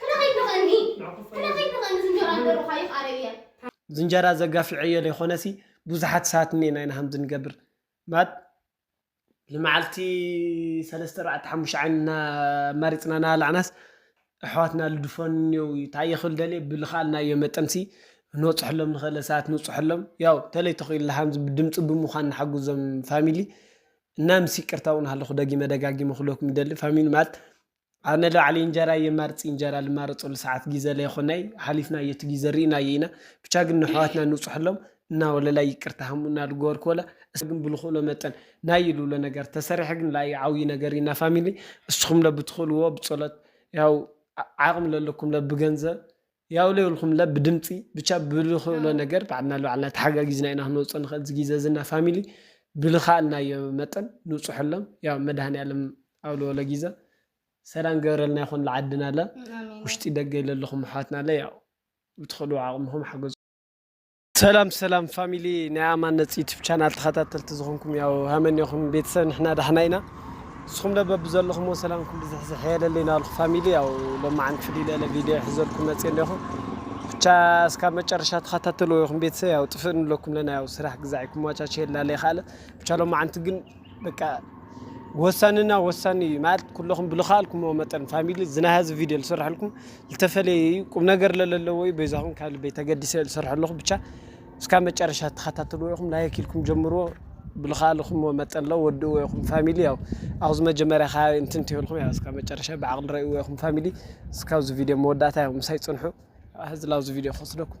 ክነኺድ ንኽእኒ ክነኺድ ንኽእኒ ዝንጀሮ ኣንደርሩኻ ይፍኣረይ እየ። ዝንጀራ ዘጋፊዐዮ ለይኮነሲ ቡዙሓት ሳባት እኔና ኢና ከምዚ ንገብር ማት ልማዓልቲ ሰለስተ ኣርባዕተ ሓሙሽተ ዓይኒ እና ኣማሪጽና ናባላዕናስ ኣሕዋትና ልድፈኑ እኔዉ እዩ ታይ ክብል ደልየ ብልኻኣልናዮ መጠንሲ ክንበጽሑሎም ንኽእለ ሳባት ንብጽሑሎም ያው ተለይ ተኺኢልና ከምዚ ብድምጺ ብሙኻን ንሓግዞም ፋሚሊ እና ምስ ይቅርታ እዉን ሃለኹ ደጊመ ደጋጊመ ክብለኩም ይደሊ ፋሚሊ ማት ኣነ ልባዕለይ እንጀራ የማርጽ እንጀራ ልማረጸሉ ሰዓት ጊዘ ለይኮነይ ሓሊፍናዮ እቲ ጊዘ ሪእናዮ ኢና ብቻ ግን ነሕዋትና ንብጽሐሎም እና ወለላይ ይቅርታ ሃሙና ልገበርክዎለ እስከ ግን ብልክእሎ መጠን ናይ ልብሎ ነገር ተሰሪሐ ግን ላኢ ዓውይ ነገር እዩ እና ፋሚሊ እስኹምለ ብትክእልዎ ብጸሎት ያው ዓቅሚ ለለኩምለ ብገንዘብ ያው ለይብልኩም ለ ብድምፂ ብቻ ብልክእሎ ነገር ባዕልና ንባዕልና ተሓጋጊዝና ኢና ክንወፅኦ ንኽእል ዝጊዘ ዝና ፋሚሊ ብልኻእልናዮ መጠን ንውፅሐሎም ያው መድሃኒኣለም ኣብለወለ ጊዘ ሰላም ገብረልና ይኹን ልዓድና ለ ውሽጢ ደገ ኢለለኹም ኣሕዋትና ለ ያው ብትኽእሉ ዓቕምኹም ሓገዙ። ሰላም ሰላም ፋሚሊ ናይ ኣማን ነጽ ዩቲብ ቻናል ተኸታተልቲ ዝኾንኩም ያው ሃመኒኹም ቤተሰብ ንሕና ዳሕና ኢና ንስኹም ደ በብዘለኹምዎ ሰላምኩም ብዝሕዝሕ የለለይ ናበልኩ ፋሚሊ ያው ሎማዓንቲ ፍልይ ለለ ቪድዮ ሕዘልኩም መጽ እንዲኹ ብቻ እስካብ መጨረሻ ተኸታተልዎ ይኹም ቤተሰብ ያው ጥፍእ ንብለኩም ለና ያው ስራሕ ግዛዕ ይኩማቻቸ የላለይ ካለ ብቻ ሎማዓንቲ ግን በቃ ወሳንና ወሳኒ እዩ ማለት ኩለኹም ብልኸኣልኩምዎ መጠን ፋሚሊ ዝናይ ሀዚ ቪድዮ ዝሰርሐልኩም ዝተፈለየ እዩ ቁም ነገር ለለለዎ እዩ በዛኹም ካብ ልበይ ተገዲሰ ዝሰርሐለኹ ብቻ እስካ መጨረሻ ተኸታተልዎ ይኹም ላይክ ኢልኩም ጀምርዎ ብልኸኣልኹምዎ መጠን ለ ወድእዎ ይኹም ፋሚሊ ያው ኣብዚ መጀመርያ ከ እንትን ትበልኩም ያ እስካ መጨረሻ ብዓቕሊ ረእዎ ይኹም ፋሚሊ እስካብዚ ቪድዮ መወዳእታ ዮም ምሳይ ፅንሑ ህዝላብዚ ቪድዮ ክወስደኩም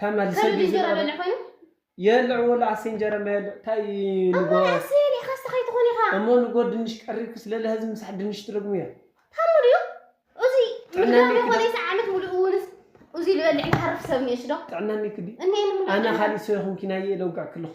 ተመልሰ ግዜ የለ ወላ ኣሰይ እንጀራማ የለ እንታይ ንጎ እሞ ንጎ ድንሽ ቀሪብኪ ስለለ ህዚ ምሳሕ ድንሽ ትደግሙ እያ ጥዕና እኒክዲ ኣነ ካሊእ ሰው ይኹንኪ ናየ ለውጋዕ ክለኹ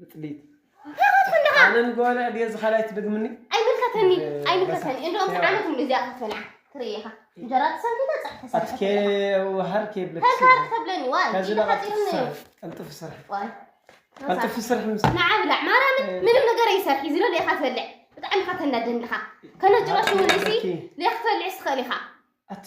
ምጥሊት ኣነን ጓልዕ ድየ እዚ ካልኣይ ትደግምኒ ኣይምልከተኒ ኣይምልከተኒ እንደኦም ዓመት ሙሉ እዚኣ ክትበልዓ ትርኢ ኢኻ እንጀራ ተሰንኪተ ፀብሒ ተሰርሐ ወሃር ከይብለክ ተጋር ተብለኒ ዋይ ከዚ ለቀጥፍኒ ቀልጥፍ ስራሕ ዋይ ቀልጥፍ ስራሕ ምስ ንዓ ብላዕ ማርያምን ምንም ነገር ኣይሰርሒ ዝሎ ሊኻ ትበልዕ ብጣዕሚ ኢኻ ተናደኒ ኢኻ ከነ ጭራሽ እውን እዚ ሊኻ ክትበልዕስ ትኽእል ኢኻ ኣቲ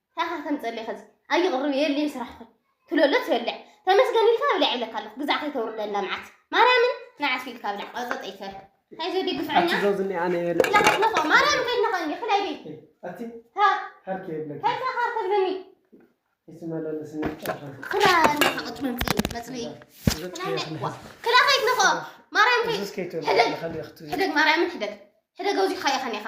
ታኻ ከም ጸሌ ከዚ ኣይቕርብ የልየ ስራሕኹም ትለሎ ትበልዕ ተመስገን ኢልካ ብልዕ ይብለካ ኣለኹ ግዛዕ ከይተውርደላ መዓት ማርያምን መዓት ፊልካ ብልዕ ቀጸጠ ይፈር ናይ ዘዲ ግፍዐኛ ኣትዘውዝኒ ኣነ የለ ላሓትነኸ ማርያም ከይድነኸ እንዲ ክላይ ቤት ኣቲ ሃርኪ የብለኪ ከይታ ሃር ከብለኒ ይስመለለስኒ ክላ ኣለኻ ቅጭ መምፅኢ መፅብኢ ክላ ከይትነኸ ማርያም ከይ ሕደግ ሕደግ ማርያምን ሕደግ ሕደግ ኣውዚኻ ኢኻ ኔኻ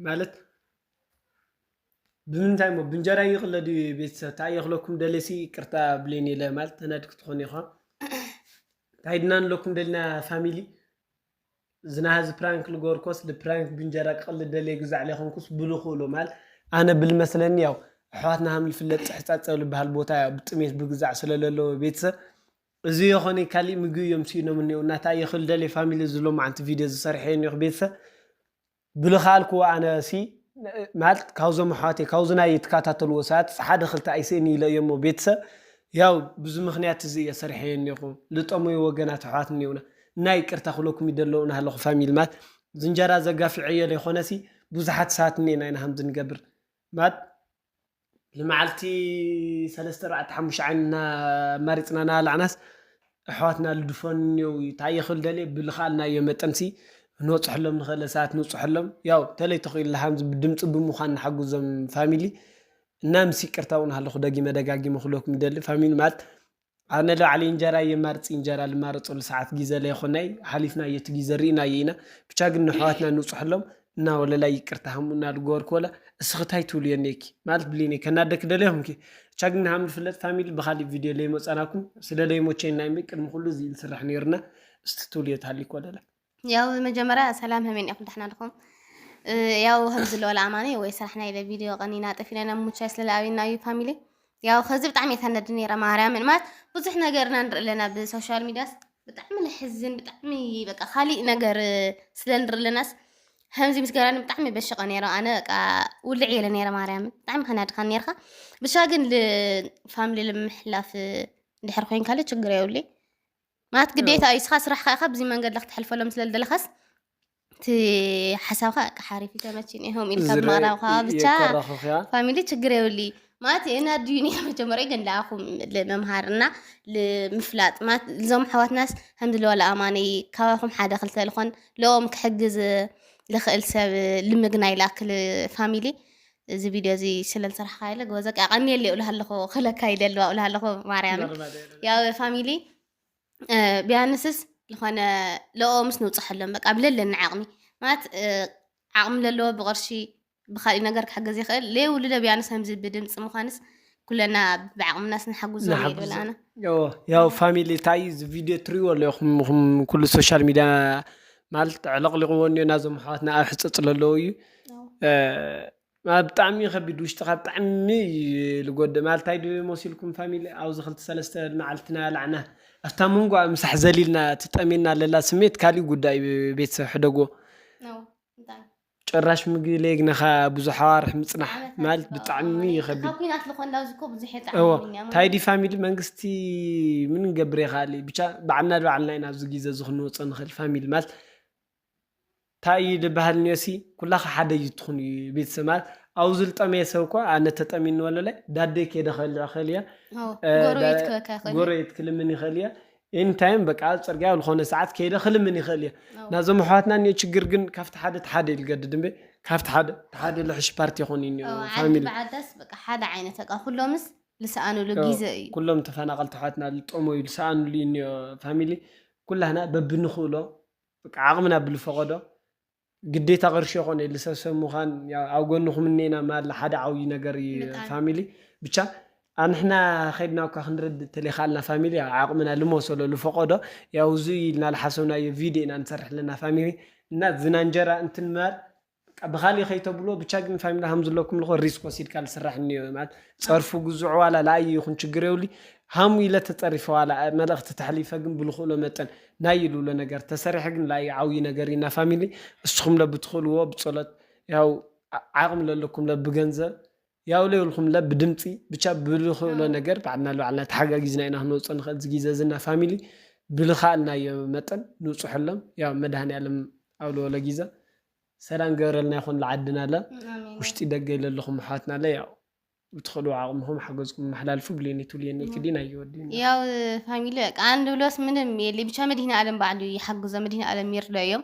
ማለት ብምንታይ እሞ ብእንጀራ ይቕለ ድዩ ቤተሰብ እንታይ እየ ክለኩም ደለሲ ይቅርታ ብሌን የለ ማለት ተናድ ክትኾን ኢኻ እንታይ ድና ንለኩም ደልና ፋሚሊ ዝናሃዚ ፕራንክ ልገበርኮስ ልፕራንክ ብእንጀራ ክቕል ደለ ግዛዕ ለይኮንኩስ ብሉ ክእሎ ማለት ኣነ ብልመስለኒ ያው ኣሕዋትና ሃም ልፍለጥ ፅሕፃፀ ልበሃል ቦታ ያው ብጥሜት ብግዛዕ ስለለለዎ ቤተሰብ እዚ የኾነ ካሊእ ምግቢ እዮም ስኢኖም እኒኦ እናታ የኽል ደለ ፋሚሊ ዝሎ መዓንቲ ቪድዮ ዝሰርሐ እኒኦ ቤተሰብ ብልኻልኩ ኣነ ሲ ማለት ካብዞም ኣሕዋተይ ካብዚ ናይ እትካታተልዎ ሰባት ሓደ ክልተ ኣይስእን ኢለ እየ እሞ ቤተሰብ ያው ብዚ ምክንያት እዚ እየ ሰሪሐዮ እኔኹ ልጠመዩ ወገናት ኣሕዋት እኔውና እና ይቅርታ ክብለኩም ይደለ ናሃለኹ ፋሚሊ ማለት እዚ እንጀራ እዚ ኣጋፊዐዮ ለይኾነሲ ብዙሓት ሰባት እኔና ኢና ከምዚ ንገብር ማለት ንመዓልቲ ሰለስተ ኣርባዕተ ሓሙሽተ ዓይኒ እናኣማሪፅና እናበላዕናስ ኣሕዋትና ልድፈኑ እኒኦው እዩ ታይ ክብል ደልየ ብልኸኣልናዮ መጠን ሲ ክንበፅሐሎም ንኽእል ለሰባት ንብፅሐሎም ያው ተለይ ተኺኢልና ኻምዚ ብድምፂ ብምዃን ንሓግዞም ፋሚሊ እና ምስ ይቅርታ እውን ሃለኹ ደጊመ ደጋጊመ ክብለኩም ይደሊ ፋሚሊ ማለት ኣነ ልባዕለይ እንጀራ የማርጽ እንጀራ ልማረጸሉ ሰዓት ጊዘ ለይኮነይ ሓሊፍናዮ እቲ ጊዘ ሪእናዮ ኢና ብቻ ግን ነሕዋትና ንውጽሐሎም እና ወለላይ ይቅርታ ሃሙና ልገበርኩ ወላ እስኺ ታይ ትብልዮ እኔኪ ማለት ብሊነይ ከናደኪ ደልየ ይኩንኪ ብቻ ግን ሃም ልፍለጥ ፋሚሊ ብካሊእ ቪድዮ ለይመጻናኩም ስለ ለይሞቸኝ ናይ እምበይ ቅድሚ ኩሉ እዚ ኢዩ ልስርሕ ነይሩ እና እስቲ ትብልዮ ተሃሊኪ ወለላይ። ያው መጀመርያ ሰላም ሀመይ ኒኹም ዳሕና ድኹም ያው ከምዚ ለወላ ኣማኒ ወይ ስራሕና ኢለ ቪድዮ ቀኒና ጠፊና ናብ ሙቻይ ስለ ኣብና እዩ ፋሚሊ ያው ከዚ ብጣዕሚ የተነድ ነረ ማርያምን ማለት ብዙሕ ነገርና ንርኢ ኣለና ብሶሻል ሚዲያስ ብጣዕሚ ንሕዝን ብጣዕሚ በቃ ካሊእ ነገር ስለ ንርኢ ኣለናስ ከምዚ ምስ ገራኒ ብጣዕሚ በሽቀ ነረ ኣነ በቃ ውልዕ የለ ነረ ማርያምን ብጣዕሚ ከናድካ ነርካ ብሻ ግን ፋሚሊ ልምሕላፍ ድሕር ኮይንካለ ችግር የብለይ ማለት ግዴታ እዩ እስኻ ስራሕካ ኢኻ ብዚ መንገዲ ክተሕልፈሎም ስለ ዝደለኻስ እቲ ሓሳብካ እቃ ሓሪፍ ተመችኒ ሆም ኢልካ ዝረ- ምቕራብካ ብቻ የኮራኹኽ እያ። ፋሚሊ ችግር የብሊ ማለት እና ዲኒ መጀመሪያ ግን ለኣኹም ልምምሃር እና ልምፍላጥ ማለት እዞም ኣሕዋትናስ ከምዚ ለዋለ ኣማነይ ካባኹም ሓደ ክልተ ልኾን ለኦም ክሕግዝ ልኽእል ሰብ ልምግናይ ላክል ፋሚሊ እዚ ቪድዮ እዚ ስለ ዝሰራሕካ ኢለ ግበዘቂ ኣቐንየለይ እብልሃ ኣለኹ ክለካ ይደልዋ እብልሃ ኣለኹ ማርያም ያው ፋሚሊ ቢያንስስ ዝኾነ ለኦ ምስ ንውፅሐሎም በቃ ብለለኒ ዓቕሚ ማለት ዓቕሚ ለለዎ ብቕርሺ ብካሊእ ነገር ክሕገዝ ይኽእል ለየውልደ ቢያንስ ከምዚ ብድምፂ ምዃንስ ኩለና ብዓቅምናስ ንሓጉዞም ንሓግዞም። ይብል ኣነ እዎ ያው ፋሚሊ እንታይ እዩ እዚ ቪድዮ እትሪእዎ ኣለኹም ኢኹም ኩሉ ሶሻል ሚድያ ማለት ኣዕለቕሊቕዎ እኒኦ ናዞም ኣሕዋትና ኣብ ሕፀፅ ለለዉ እዩ እ፣ ማለት ብጣዕሚ እዩ ከቢድ ውሽጥኻ ብጣዕሚ እዩ ልጎድእ ማለት እንታይ ድዩ መሲልኩም ፋሚሊ ኣብዚ ክልተ ሰለስተ መዓልቲ ናበላዕና ኣብታ መንጎኣ ምሳሕ ዘሊልና እቲ ጠምየና ለላ ስሜት ካሊእ ጉዳይ እዩ ቤተሰብ ሕደግዎ ነው እንታይ ጭራሽ ምግቢ ለይግነኻ ብዙሕ ኣዋርሕ ምፅናሕ ማለት ብጣዕሚ ይኸብድ እወ ታይዲ ፋሚሊ መንግስቲ ምን ንገብር ይኽኣል እዩ ብቻ ባዕልና ንባዕልና ኢና ኣብዚ ግዜ እዚ ክንወፆ ንኽእል ፋሚሊ ማለት ታይ እዩ ልበሃል እንዮሲ ኩላኻ ሓደ እዩ ትኹን እዩ ቤተሰብ ማለት ኣብኡ ዝልጠመየ ሰብ እኳ ኣነ ተጠሚኒ ወለለ ዳደይ ከይደ ከልዕ ይኽእል እየ ጎረቤት ክልምን ይኽእል እየ ኤኒ ታይም በቃ ኣብ ፅርግያ ኣብ ዝኾነ ሰዓት ከይደ ክልምን ይኽእል እየ ኣዎ ናዞም ኣሕዋትና እኒኦ ችግር ግን ካብቲ ሓደ እቲ ሓደ እዩ ዝገድድ እምበይ ካብቲ ሓደ እቲ ሓደ ልሕሽ ፓርቲ ይኾኑ እዩ እኒኦ ኣዎ ዓዲ ፋሚሊ ብዓዳስ በቃ ሓደ ዓይነት በቃ ኩሎምስ ልሰኣንሉ ኣዎ ጊዘ እዩ። ኩሎም ተፈናቐልቲ ኣሕዋትና ልጠመዩ ልሰኣንሉ እዩ እኒኦ ፋሚሊ ኩላህና በብንኽእሎ በቃ ዓቕምና ብልፈቐዶ ግዴታ ቅርሺ የኮነ ኢሊ ሰብ ሰብ ምኳን ያው ኣብ ጎንኩም እኒኤና ማላ ሓደ ዓውዪ ነገር እዪ ብጣዕሚ። ፋሚሊ ብቻ ኣንሕና ከድና እኳ ክንረድእ እተለይካኣልና ፋሚሊ ያው ዓቅምና ልመሰሎ ልፈቆዶ ያው እዙይ እዪ ኢልና ልሓሰብናዮ ቪድዮ ኢና ንሰርሕ ለና ፋሚሊ እና ዝና እንጀራ እንትን ማር በቃ ብካሊእ ከይተብልዎ ብቻ ግን ፋሚሊ ሃምዝለኩም ልኮ ሪስክ ወሲድካ ልስራሕ እኒኦ ማለት ፀርፉ ግዙዑ ዋላ ላኣዪ ይኩን ችግር የብሉይ ሃሙ ኢለ ተፀሪፈ ዋላ መልእክቲ ተሕሊፈ ግን ብልኩእሎ መጠን ናይ ይሉሎ ነገር ተሰሪሐ ግን ላዩ ዓውዪ ነገር ኢና ፋሚሊ እስኹም ለ ብትኽእልዎ ብጸሎት ያው ዓቕሚ ለለኩም ለ ብገንዘብ ያው ለይብልኩም ለ ብድምፂ ብቻ ብልኽእሎ ነገር ባዕልና ልባዕልና ተሓጋጊዝና ኢና ክንወፅኦ ንኽእል እዚ ግዜ እዚ እና ፋሚሊ ብልኻእልናዮ መጠን ንውፅሐሎም ያው መድሃኒኣለም ኣብ ለወለ ጊዘ ሰላም ገብረልና ይኹን ልዓድና ለ ውሽጢ ደገ ይለለኹም ኣሕዋትና ለ ያው ብትኽእሉ ዓቕምኹም ሓገዝኩም ኣመሓላልፉ ብሌኒ ትብልየኒ ትዲ ናይ ወዲና ያው ፋሚሊ በቃ አንድ ብሎስ ምንም የለ ብቻ መድህን ዓለም ባዕሉ ይሓግዞ መድህን ዓለም ይርዶ እዮም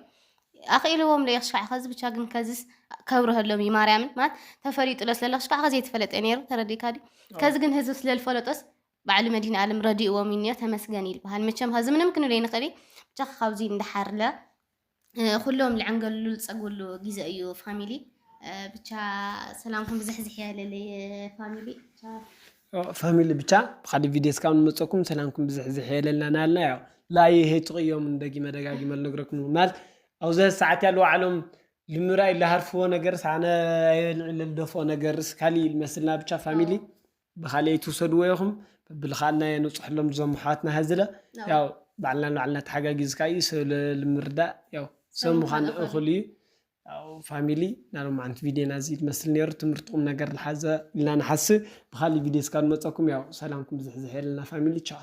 ኣኽኢልዎም ዶ ይኽሽካዕ ከዚ ብቻ ግን ከዚስ ከብረሀሎም እዩ ማርያምን ማለት ተፈሊጡሎ ስለለ ክሽካዕ ከዚ የተፈለጠ ነይሩ ተረዲካ ድዩ ከዚ ግን ህዝብ ስለልፈለጦስ ባዕሉ መድህን ዓለም ረዲእዎም እዩ ተመስገን ይልበሃል መቸም ከዚ ምንም ክንብል ይንኽእል ብቻ ካብዚ እንዳሓርለ ኩሎም ልዕንገልሉ ልጸግብሉ ግዜ እዩ ፋሚሊ ብቻ ሰላምኩም ብዝሕዝሕ ያለለይ ፋሚሊ ፋሚሊ ብቻ ብካዲ ቪድዮ ስካብ ንመፀኩም ሰላምኩም ብዝሕዝሕ የለልና ናልና ያው ላየ ሄትቅዮም ደጊመ ደጋጊመ ልነግረኩም ማለት ኣብዚ ሰዓት ያሉ ዓለም ልምራይ ልሃርፍዎ ነገር ሳነ ልደፍኦ ነገር ስካሊ መስልና ብቻ ፋሚሊ ብካልእ ኣይትውሰድዎ ኢኩም በብልካልና የንብፀሐሎም እዞም ኣሕዋትና ሀዝለ ያው ባዕልና ንባዕልና ተሓጋጊዝካ እዩ ሰብ ንምርዳእ ያው ሰብ ምኳን እኩል እዩ ያው ፋሚሊ ናይ ሎማዓንቲ ቪድዮና እዚ ዝመስል ነይሩ ትምህርቲ ቁም ነገር ዝሓዘ ኢልና ንሓስብ ብካልእ ቪድዮ እስካ ንመፀኩም ያው ሰላምኩም ዝሕዝሐልና ፋሚሊ ቻው።